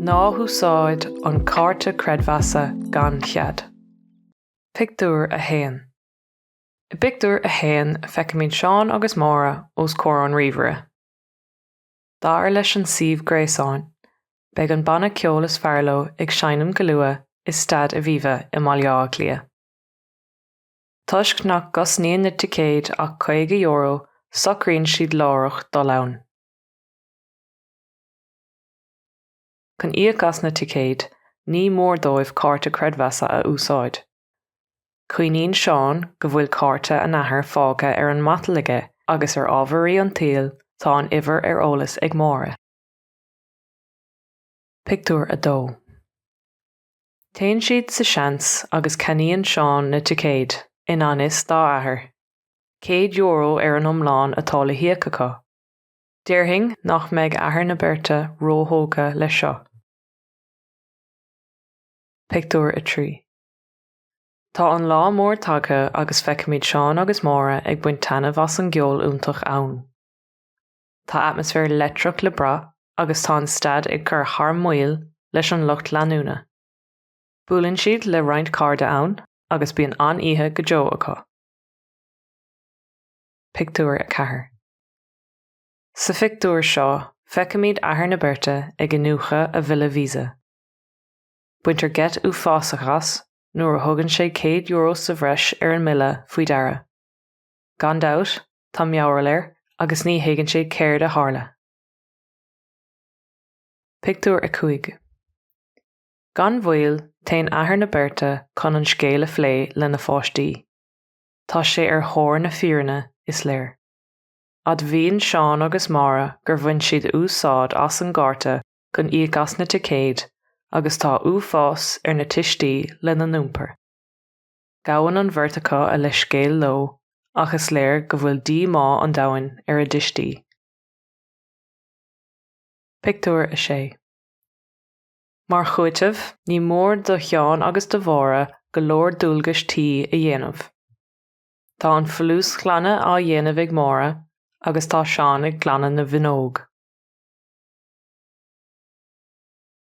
Ná húsáid an cárta creidmheasa gan chead. Pictiúr 1. I bpictiúr 1 feicimid Seán agus Máire os comhair an ríomhaire. Dar leis an suíomh gréasáin, beidh an banna ceoil is fearr leo ag seinm go luath i Staid Aviva i mBaile Átha Cliath. Toisc nach gcosnaíonn na ticéid ach €50, socraíonn siad láithreach dul ann. Chun íoc as na ticéid, ní mór dóibh cárta creidmheasa a úsáid. Cuimhníonn Seán go bhfuil cárta an athar fágtha ar an matal aige agus ar ámharaí an tsaoil tá an uimhir ar eolas ag Máire. Pictiúr 2 Téann siad sa seans agus ceannaíonn Seán na ticéid, i ngan fhios dá athair. Céad euro ar an iomlán atá le híoc acu. Déarfainn nach mbeidh athair na beirte róthógtha leis seo. Pictiúr 3 Tá an lá mór tagtha agus feicimid Seán agus Máire ag baint taitneamh as an gceol iontach ann. Tá atmaisféar leictreach le brath agus tá an staid ag cur thar maoil leis an lucht leanúna. Buaileann siad le roinnt cairde ann agus bíonn an-oíche go deo acu. Pictiúr 4 Sa phictiúr seo feicimid athair na beirte ag iniúchadh a bhille Visa. Baintear geit uafásach as nuair a thugann sé €100 sa bhreis ar an mbille faoi deara. Gan dabht, tá mearbhall air agus ní thuigeann sé céard a tharla. Pictiúr 5. Gan mhoill, téann athair na beirte chun an scéal a phlé lena pháistí. Tá sé ar thóir na fírinne, is léir. Admhaíonn Seán agus Máire gur bhain siad úsáid as an gcárta chun íoc as na ticéid agus tá uafás ar na tuistí lena n-iompar. Gabhann an bheirt acu a leithscéal leo ach is léir go bhfuil díomá an domhain ar a dtuistí. Pictiúr 6 Mar chúiteamh, ní mór do Sheán agus do Mháire go leor dualgais tí a dhéanamh. Tá an folúsghlanadh á dhéanamh ag Máire agus tá Seán ag glanadh na bhfuinneog.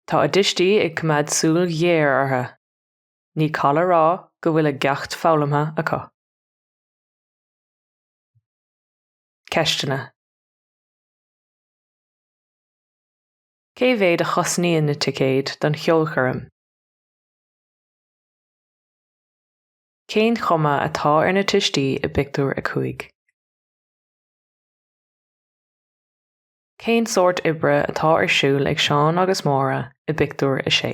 Tá a dtuistí ag coimeád súil ghéar orthu. ní call a rá go bhfuil a gceacht foghlamtha acu. Ceisteanna. Cé mhéad a chosnaíonn na ticéid don cheolchoirm? Cén chuma atá ar na tuistí i bpictiúr a cúig? Cén sórt oibre atá ar siúl ag Seán agus Máire i bpictiúr a sé?